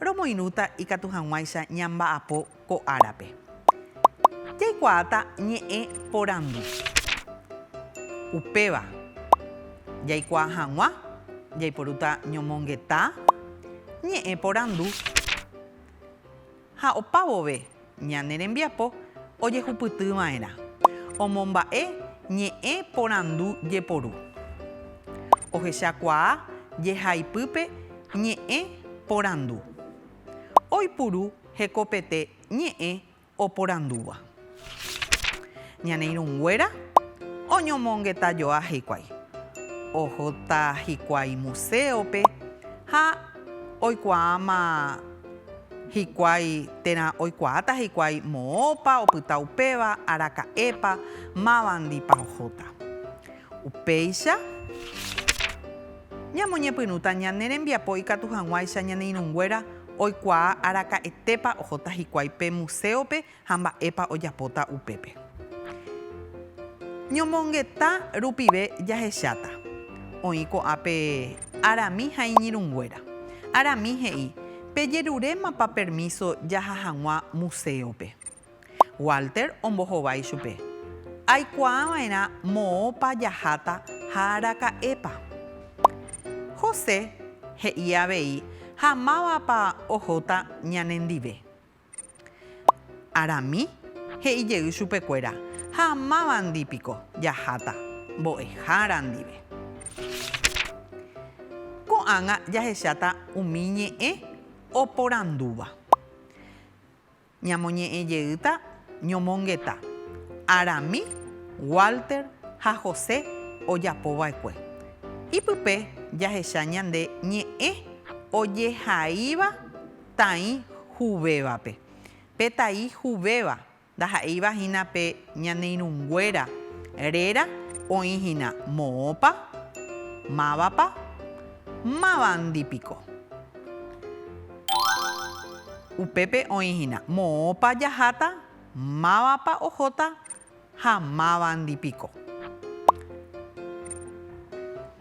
Romoirũta ikatu hag̃uáicha ñamba'apo ko árape. Jaikuaáta ñe'ẽ porandu. Upéva jaikuaa hag̃ua jaiporúta ñomongeta ñe'ẽ porandu ha opa vove Ñane rembiapo ojehupyty va'erã. Omomba'e ñe'ẽ porandu jeporu. Ohechakuaa jehaipype ñe'ẽ porandu. Oipuru hekopete ñe'ẽ oporandúva. Ñane irũnguéra oñomongetajoa hikuái. Ohóta hikuái muséope ha oikuaáma. Hikuái térã oikuaáta hikuái moõpa opyta upéva, araka'épa, mávandipa ohóta. Upéicha, ñamoñepyrũta ñane rembiapo ikatu hag̃uáicha ñane irũnguéra oikuaa araka'etépa ohóta hikuái pe muséope Ha mba'épa ojapóta upépe? Ñomongeta rupive jahecháta. Oĩ ko'ã pe Arami ha iñirũnguéra. Arami he'i, Pejerurémapa permíso jaha hag̃ua muséope? Walter ombohovái chupe, Aikuaava'erã moõpa jaháta ha araka'épa. José he'i avei ha mávapa ohóta ñanendive. Arami, he'i jey chupe kuéra, Ha mávandi piko jaháta mbo'ehára ndive. Ko'ágã jahecháta umi ñe'ẽ oporandúva. Ñamoñe'ẽ jeýta ñomongeta, Arami, Walter ha José ojapo vaekue. Ipype jahecha ñande ñe'ẽ ojehaíva Taĩ huvévape. Pe taĩ huvéva ndaha'éiva hína pe ñane irũnguéra réra oĩ hína moõpa, mávapa, mávandi piko. Upépe oĩ hína moõpa jaháta, mávapa ohóta, ha mávandi piko?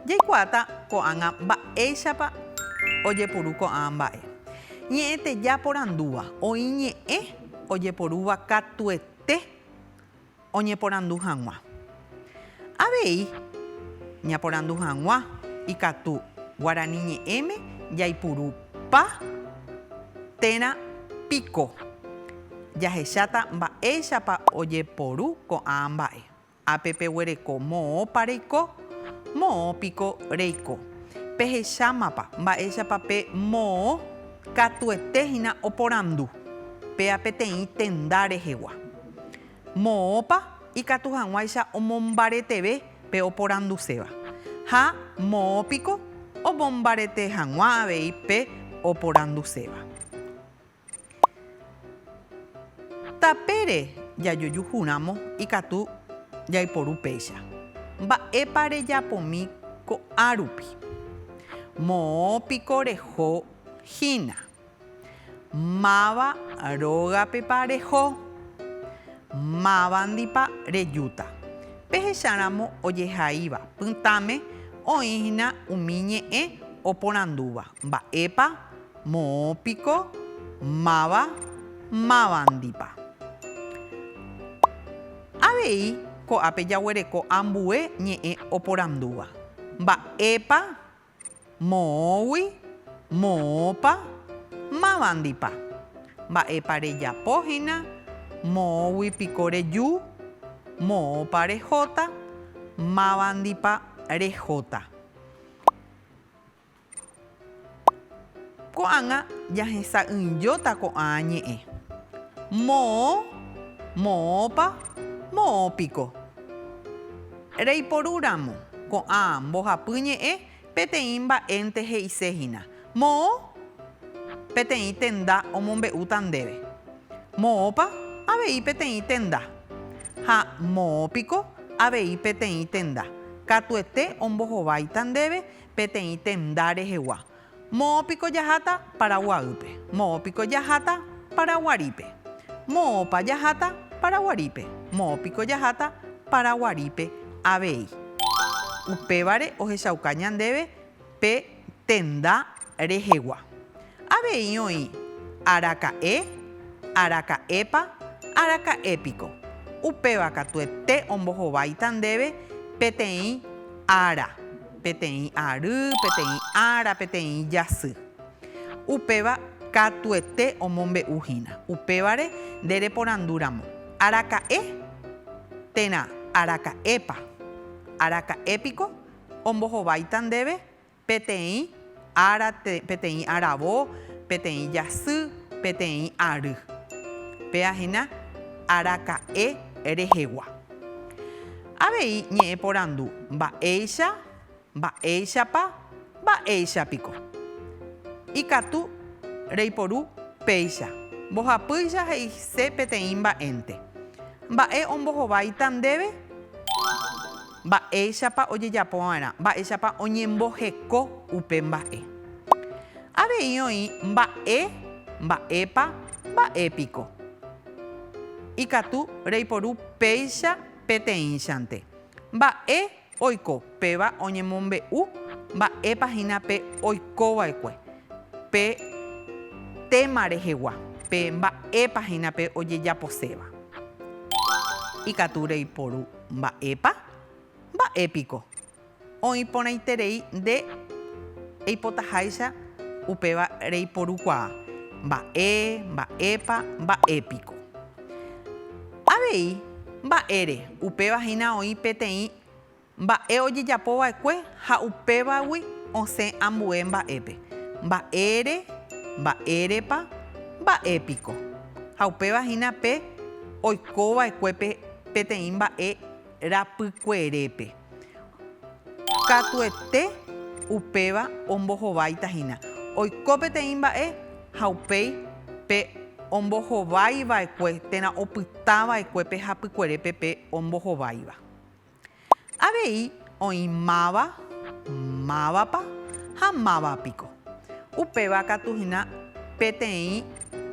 Jaikuaáta ko'ág̃a mba'éichapa ojepuru ko'ã mba'e. Ñe'ẽteja porandúva, Oĩ ñe'ẽ ojeporúva katuete oñeporandu hag̃ua. Avei ñaporandu hag̃ua ikatu guarani ñe'ẽme jaipurupa térã piko. Jahecháta mba'éichapa ojeporu ko'ã mba'e. Ápe peguereko moõpa reiko, moõ piko reiko. Pehechámapa mba'éichapa pe moõ katuete hína oporandu péa peteĩ tenda rehegua. Moõpa ikatu hag̃uáicha omombareteve pe oporanduséva ha moõ piko omombarete hag̃ua avei pe oporanduséva. Tapére jajojuhúramo ikatu jaiporu péicha. Mba'épa rejapomi ko'árupi? Moõ piko reho hína? Máva rógapepa reho? Mávandipa rejúta? Pehecháramo ojehaíva pytãme oĩhína umi ñe'ẽ oporandúva, mba'épa Moõ piko, máva, mávandipa. Avei ko'ápe jaguereko ambue ñe'ẽ oporandúva, mba'épa, moõgui, moõpa, mávandipa, mba'épa rejapo hína, moõgui piko reju, moõpa rehóta, mávandipa rehóta. Ko'ág̃a jahesa'ỹijóta ko'ã ñe'ẽ. Moõ, moõpa, moõpiko. Reiporu ramo ko'ã mbohapy ñe'ẽ peteĩ mba'énte he'ise hína, Moõ, peteĩ tenda omombe'úta ndéve. Moõpa, avei peteĩ tenda. Ha moõpiko, avei peteĩ tenda. Katuete ombohováita ndéve peteĩ tenda rehegua. Moõ piko jaháta Paraguaýpe? Moõ piko jaháta Paraguarípe? Moõpa jaháta Paraguarípe? Moõ piko jaháta Paraguarípe avei. Upévare ohechauka ñandéve pe tenda rehegua. Avei oĩ, araka'e, araka'épa, araka'e piko. Upéva katuete ombohováita ndéve peteĩ ára, peteĩ ary, peteĩ ára, peteĩ jasy. Upéva katuete omombe'u hína. Upévare nde reporandu ramo, Araka'e? térã, Araka'épa? Araka'e piko ombohováita ndéve Peteĩ ára, peteĩ aravo, peteĩ jasy, peteĩ ary. Péva hína araka'e rehegua. Avei ñe'ẽ porandu, mba'éicha, mba'éichapa, mba'éicha piko. Ikatu reiporu péicha, mbohapýicha he'ise peteĩ mba'énte. Mba'e ombohováita ndéve? Mba'éichapa ojejapo va'erã. Mba'éichapa oñemboheko upe mba'e. Avei oĩ mba'e, mba'épa, mba'épiko. Ikatu reiporu péicha peteĩchante. Mba'e oiko péva oñemombe'u mba'épa hína pe oikova'ekue pe téma rehegua, pe mba'épa hína pe ojejaposéva. Ikatu reiporu. Mba'épa? Mba'e piko? Oĩ porãiterei nde eipotaháicha upéva reiporukuaa. Mba'e, mba'épa, mba'e piko? Avei, mba'ére, upéva hína oĩ peteĩ mba'e ojejapo va'ekue ha upévagui osẽ ambue mba'épe. Mba'ére, mba'érepa, mba'e piko? Ha upéva hína pe oiko va'ekue pe. Peteĩ mba'e rapykuerépe, katuete upéva ombohováita hína. Oiko peteĩ mba'e ha upéi pe ombohováiva'ekue térã opytava'ekue pe hapykuerépe pe ombohováiva. Avei oĩ máva, mávapa ha máva piko. Upéva katu hína peteĩ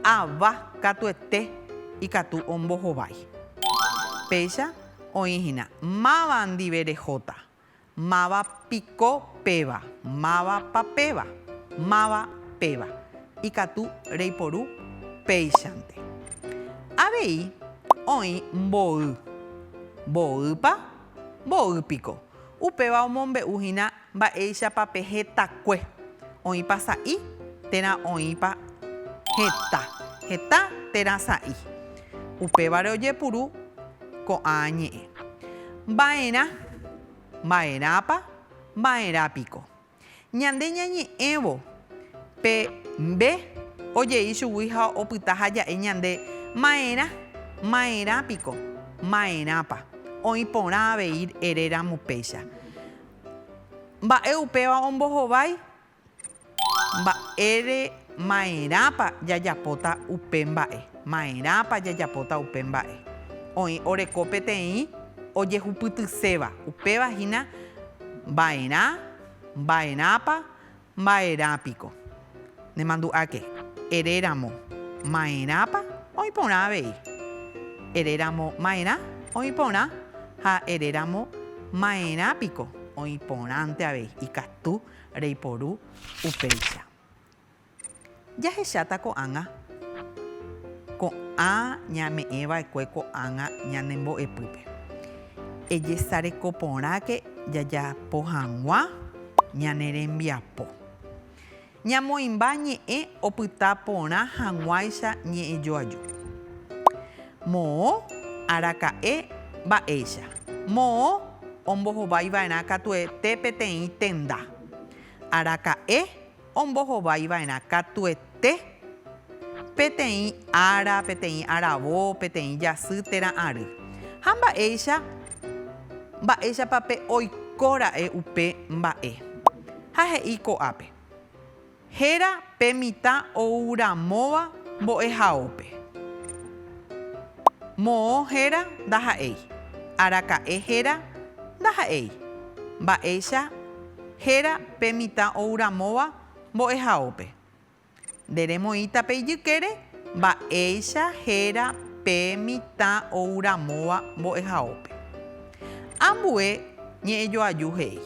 ava katuete ikatu ombohovái. Péicha oĩ hína máva ndive rehóta, máva piko péva, mávapa péva, máva péva. Ikatu reiporu péichante. Avei oĩ mboy. Mboýpa? Mboy piko. Upéva omombe'u hína mba'éichapa pe hetakue. Oĩpa sa'i térã oĩpa heta. Heta térã sa'i. Upévare ojepuru ko'ã ñe'ẽ. Mba'erã. Mba'erãpa? Mba'erã piko. Ñande ñañe'ẽvo pe mbe ojei chugui ha opyta ha ja'e ñande, Maerã, maerã piko, maerãpa, oĩ porã avei ere ramo péicha. Mba'e upéva ombohovái? Mba'ére maerãpa jajapóta upe mba'e, maerãpa jajapóta upe mba'e. Oĩ oreko peteĩ ojehupytyséva, upéva hína, Mba'erã, mba'erãpa, mba'erã piko. Nemandu'áke, ere ramo, Ma'erãpa, oĩ porã avei. Ere ramo, Ma'erã, oĩ porã, ha ere ramo, Ma'erã piko, oĩ porãnte avei. Ikatu reiporu upéicha. Jahecháta ko'ág̃a ko'ã ñame'ẽ va'ekue ko'ág̃a ñane mbo'epýpe. Ejesareko porãke jajapo hag̃ua ñane rembiapo. Ñamoĩmba ñe'ẽ opyta porã hag̃uáicha ñe'ẽjoaju. Moõ araka'e mba'éicha. Moõ ombohovái va'erã katuete peteĩ tenda. Araka'e ombohovaiva'erã katuete peteĩ ára, peteĩ aravo, peteĩ jasy térã ary. Ha mba'éicha, mba'éichapa pe oiko ra'e upe mba'e. Ha he'i ko'ápe, Héra pe mitã ouramóva mbo'ehaópe. Moõ héra ndaha'éi, araka'e héra ndaha'éi. Mba'éicha. Héra pe mitã ou ramóva mbo'ehaópe. Nde remoĩta pe ijykére mba'éicha héra pe mitã ou ramóva mbo'ehaópe. Ambue ñe'ẽjoaju he'i,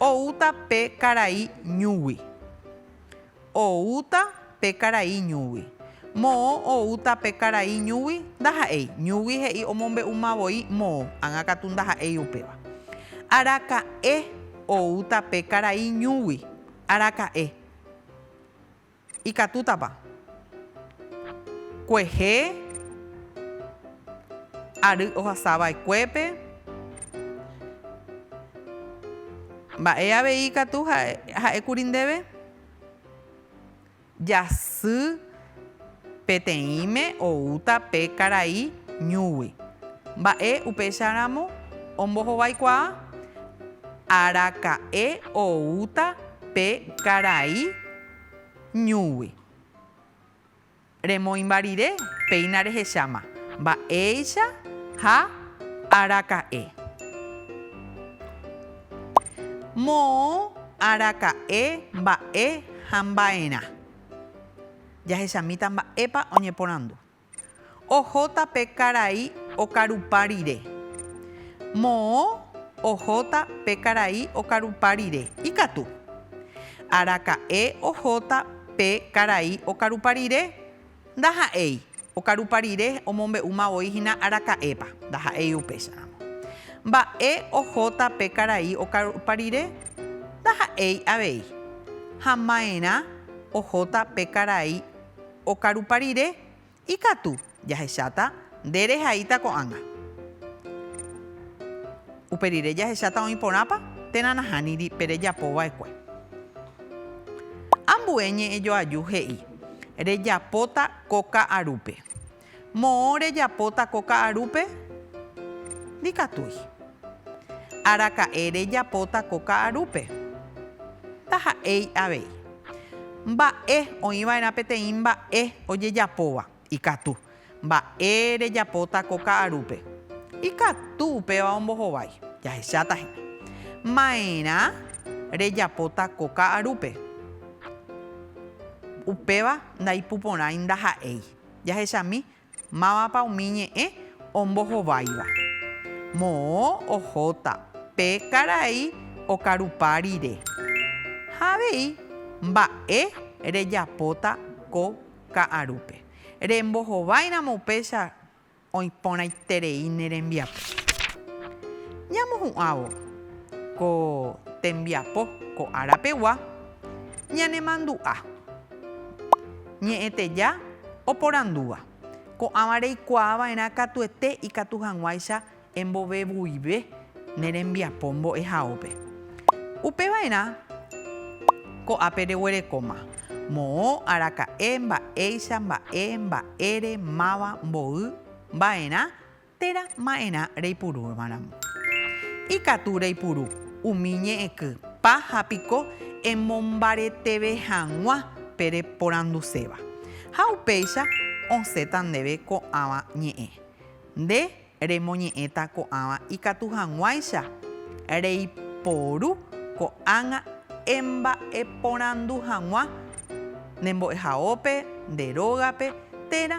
Oúta pe karai ñúgui. Oúta pe karai ñúgui. Moõ oúta pe karai ñúgui, ndaha'éi. Ñúgui he'i omombe'uma voi moõ, ágã katu ndaha'éi upéva. Araka'e oúta pe karai ñúgui. Araka'e. Ikatútapa? Kuehe ary ohasa va'ekuépe. Mba'e avei ikatu ha'e kuri ndéve? Jasy peteĩme oúta pe karai ñúgui. Mba'e upéicharamo ombohovaikuaa? Araka'e oúta pe karai ñúgui. Remoĩmba rire, péina rehecháma mba'éicha ha araka'e. Moõ araka'e mba'e ha mba'erã. Jahechamíta mba'épa oñeporandu. Ohóta pe karai okarupa rire. Moõ ohóta pe karai okarupa rire. Ikatu. Araka'e ohóta Pe karai okarupa rire? Ndaha'éi. Okarupa rire omombe'úma voi hína araka'épa. Ndaha'éi upéicharamo. Mba'e ohóta pe karai okarupa rire? Ndaha'éi avei. Ha maerã ohóta pe karai okarupa rire? Ikatu, jahecháta, nde rehaíta ko'ág̃a. Upe rire jahecháta oĩ porãpa, térã nahániri pe rejapo va'ekue. Ambue ñe'ẽ joaju he'i, Rejapóta ko ka'arúpe. Moõ rejapóta ko ka'arúpe? Ndikatúi. Araka'e rejapóta ko ka'arúpe. Taha'éi avei. Mba'e, oĩ va'erã peteĩ mba'e ojejapóva. Ikatu. Mba'e rejapóta ko ka'arúpe. Ikatu upéva ombohovái. Jahecháta hína. Ma'erã rejapóta ko ka'arúpe. Upéva ndaipuporãi ndaha'éi. Jahechami, Mávapa umi ñe'ẽ ombohováiva? Moõ ohóta pe karai okarupa rire. Ha avei mba'e rejapóta ko ka'arúpe. Rembohováiramo upéicha oĩporãiterei ne rembiapo. Ñamohu'ãvo ko tembiapo ko ára pegua ñanemandu'a. Ñe'ẽteja oporandúva, Ko'ãva reikuaa va'erã katuete ikatu hag̃uáicha embovevuive ne rembiapo mbo'ehaópe. Upe va'erã ko'ápe reguerekóma, moõ, araka'e, mba'éicha, mba'e, mba'ére, máva, mboy, va'erã, Térã ma'erã reipurúramo. Ikatu reipuru umi ñe'ẽky pa ha piko emombareteve hag̃ua pe reporanduséva. Ha upéicha osẽta ndéve ko'ãva ñe'ẽ. Nde remoñe'ẽta ko'ãva ikatu hag̃uáicha reiporu ko'ág̃a emba'eporandu hag̃ua nde mbo'ehaópe, nde rógape, térã